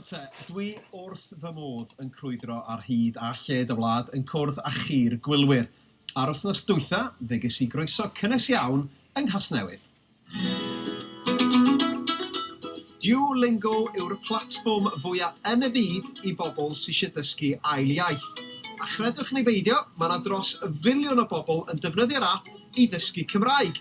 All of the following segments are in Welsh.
Te, dwi wrth fy modd yn crwydro ar hyd a lled y wlad yn cwrdd â chi'r gwylwyr. A'r wythnos dwytha, fe ges i groeso cynnes iawn yng Nghasnewydd. Duolingo yw'r platfform fwya yn y byd i bobl sy eisiau dysgu ail iaith. A chredwch neu beidio, mae 'na dros filiwn o bobl yn defnyddio'r ap i ddysgu Cymraeg.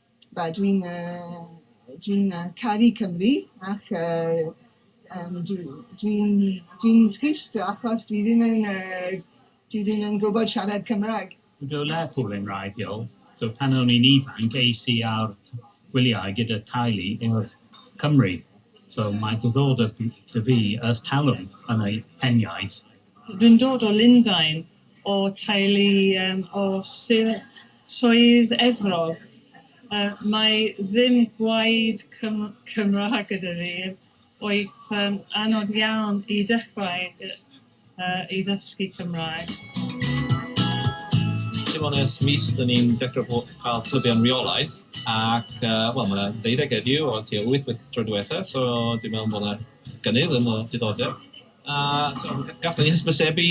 Wel dwi'n yy dwi'n yy caru Cymru ac yy yym dwi dwi'n dwi'n trist achos dwi ddim yn yy dwi ddim yn gwbod siarad Cymra'g. Dwi o Lerpwl yn wreiddiol, so pan o'n i'n ifanc es i ar gwyliau gyda teulu i'r Cymru, so mae diddordeb 'da fi ers talwm yn y hen iaith. Dwi'n dod o Lundain, o teulu yym o Sir Swydd Efrog yy mae ddim gwaed Cym- Cymraeg gyda fi oedd yn anodd iawn i dechrau yy yy i ddysgu Cymraeg. Dim ond ers mis dyn ni'n dechrau bo- ca'l clubiau'n reolaidd ac yy wel ma' 'na deuddeg heddiw o tua wyth y tro dwetha so dwi'n meddwl bo' 'na gynnydd yn y diddordeb. A tibod, gallwn ni hysbysebu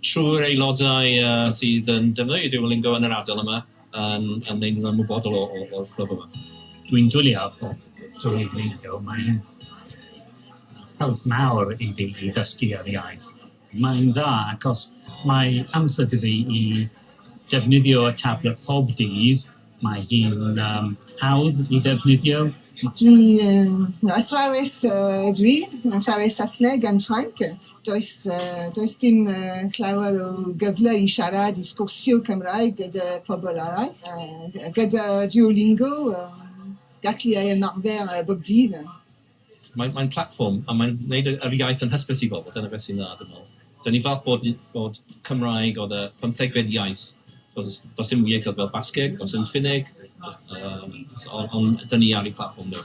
trwy'r aelodau sydd yn defnyddio Duolingo yn yr ardal yma, yn yn ein ymwybodol o o o'r clwb yma. Dwi'n dwli ar Duolingo, mae'n help mawr i fi i ddysgu yr iaith. Mae'n dda achos mae amser 'da fi i defnyddio y tablet pob dydd. Mae hi'n hawdd i ddefnyddio? Dwi yn athrawes ydw i, athrawes Saesneg and Ffrainc. Does does dim llawer o gyfle i siarad, i sgwrsio Cymraeg gyda pobl arall. Gyda Duolingo, gallu ymarfer bob dydd. Mae'n mae'n platfform a mae'n wneud y yr iaith yn hysbys i bobl, dyna beth sy'n dda dwi'n meddwl. Dan ni'n falch bod bod Cymraeg oedd y pymthegfed iaith, does does dim ieithoedd fel Basgeg, does dim Ffinneg, yym so on- ond dan ni ar ein platfform ni.